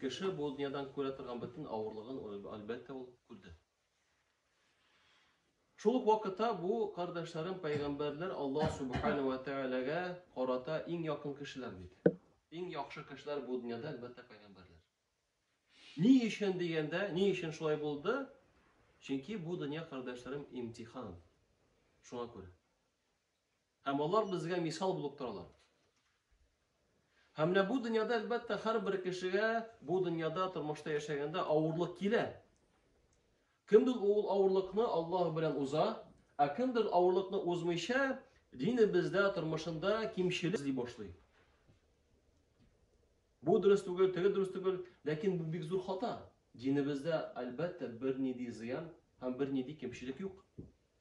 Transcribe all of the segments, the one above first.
Кеше бу дөньядан күрә торган бөтен авырлыгын, әлбәттә, ул күрде. Шул ук вакытта бу кардәшләрем пәйгамбәрләр Аллаһ субхана ва тәгаләгә карата иң якын кешеләр бит. Иң яхшы кешеләр бу дөньяда әлбәттә пәйгамбәрләр. Ни өчен дигәндә, ни өчен шулай булды? Чөнки бу дөнья кардәшләрем имтихан. Шуңа күрә. Һәм алар безгә мисал булып торалар. Һәм менә бу дөньяда, әлбәттә, һәрбер кешегә бу дөньяда тормышта яшәгәндә авырлык килә. Кемдер ул авырлыкны Аллаһ белән уза, ә кемдер авырлыкны узмыйча, динебездә, тормышында кимчелек эзли башлый. Бу дөрес түгел, теге дөрес түгел, ләкин бу бик зур хата. Динебездә, әлбәттә, бернинди зыян һәм бернинди кимчелек юк.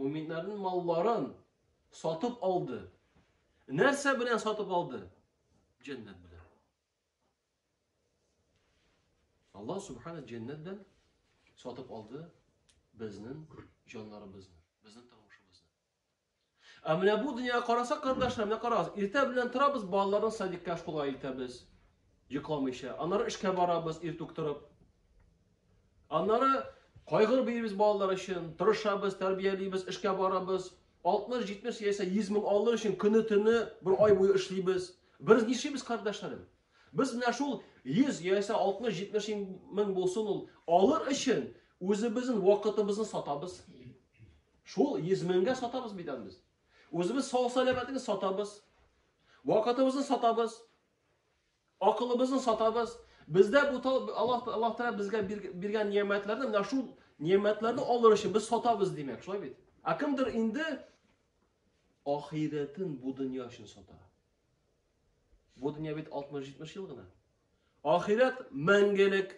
Мөминнәрнең малларын сатып алды. Нәрсә белән сатып алды? Җәннәт белән. Аллаһ субхана җәннәт белән сатып алды безнең җаннарыбызны, безнең тормышыбызны. Ә менә бу дөньяга карасак, кардәшләр, менә карагыз, иртә белән торабыз, балаларны садикка школга илтәбез, йокламыйча. Аннары эшкә барабыз, иртүк торып, Аннары кайгыр биребез балалар өчен, тырышабыз, тәрбиялибез, эшкә барабыз. 60-70 яисә 100 мең алыр өчен көне төне бер ай буе эшлибез. Без нишлибез, кардәшләрем? Без менә шул 100 яисә 60-70 мең булсын ул алыр өчен үзебезнең вакытыбызны сатабыз. Шул 100 меңгә сатабыз бит без. Үзебез сау сәламәтне сатабыз. Вакытыбызны сатабыз. Акылыбызны сатабыз. Бездә бу Аллаһ Аллаһ Тәгалә безгә биргән ниәмәтләрне, менә шул ниәмәтләрне алыр өчен без сатабыз димәк, шулай бит? Ә кемдер инде ахирәтен бу дөнья өчен сата. Бу дөнья бит 60-70 ел гына. Ахирәт мәңгелек.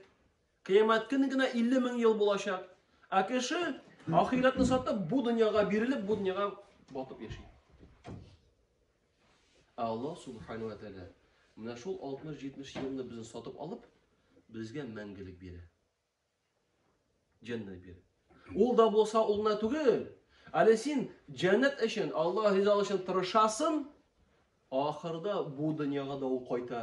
Кыямәт көне генә 50 мең ел булачак. Ә кеше ахирәтне сатып, бу дөньяга бирелеп, бу дөньяга батып яши. Ә Аллаһ Субхану ва Тәгалә менә шул 60-70 елны безне сатып алып, безгә мәңгелек бирә. Җәннәт бирә. Ул да булса улына түгел, әле син җәннәт өчен, Аллаһ ризалыгы өчен тырышасың, ахырда бу дөньяга да ул кайта.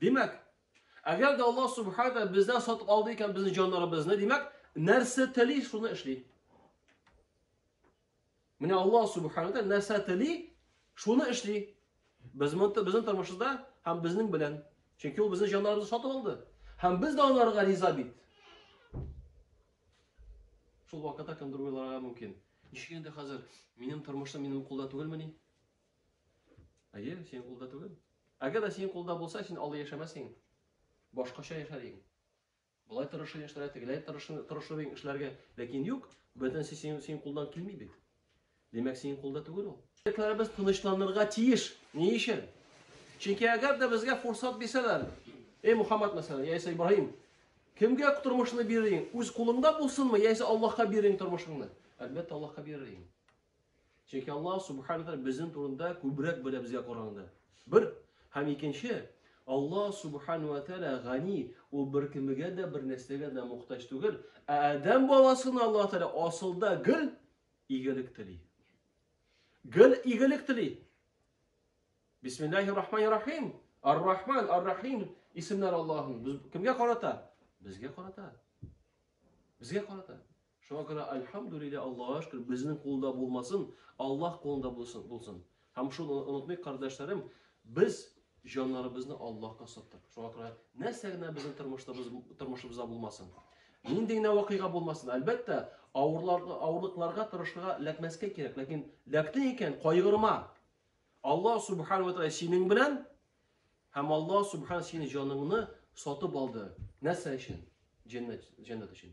Димәк, әгәр дә Аллаһ Субхаһу ва бездән сатып алды икән безнең җаннарыбызны, димәк, нәрсә тели, шуны эшли. Менә Аллаһ Субхаһу ва нәрсә тели, шуны эшли. Без монда безнең тормышыбызда һәм безнең белән. Чөнки ул безнең җаннарыбызны сатып алды. Һәм без дә аларга риза бит. Шул вакытта кемдер уйларга мөмкин. Ничек инде хәзер минем тормышым минем кулда түгелмени? Әйе, синең кулда түгел. Әгәр дә синең кулда булса, син алда яшәмәс идең. Башкача яшәр идең. Болай тырышыр яшьләргә, тегеләй тырышыр, тырышыр идең эшләргә. Ләкин юк, бөтенесе синең, синең кулдан килми бит. Димәк, синең кулда түгел ул. Фикерләребез тынычланырга тиеш. Ни өчен? Чөнки әгәр дә безгә фурсат бирсәләр, эй Мухаммад мәсәлән, яисә Ибраһим, кемгә тормышны бирер идең? Үз кулыңда булсынмы, яисә Аллаһка бирер идең тормышыңны? Әлбәттә, Аллаһка бирер идең. Чөнки Аллаһ Субхану Тәгалә безнең турында күбрәк белә безгә караганда. Бер һәм икенче, Аллаһ Субхану Тәгалә гани, ул беркемгә дә бер нәрсәгә дә мохтаҗ түгел. Ә Адәм баласына Аллаһ Тәгалә асылда гел игелек тели. Гел игелек тели. Бисмиллахир рахманир рахим. Ар-Рахман, Ар-Рахим исемнәр Аллаһның. Без кемгә карата? Безгә карата. Безгә карата. Шуңа күрә Альхамдулилля Аллага шөкер безнең кулда булмасын, Аллаһ кулында булсын булсын. Һәм шуны онытмыйк кардәшләрем, без җаннарыбызны Аллаһка саттык. Шуңа күрә нәрсә генә безнең тормышыбыз тормышыбызда булмасын. Нинди генә вакыйга булмасын, әлбәттә, авырларга, авырлыкларга тырышырга ләкмәскә кирәк, ләкин ләкте икән, кайгырма. Алла субхану ва тааля синең белән һәм Алла субхан синең җаныңны сатып алды. Нәрсә өчен? Җәннәт, җәннәт өчен.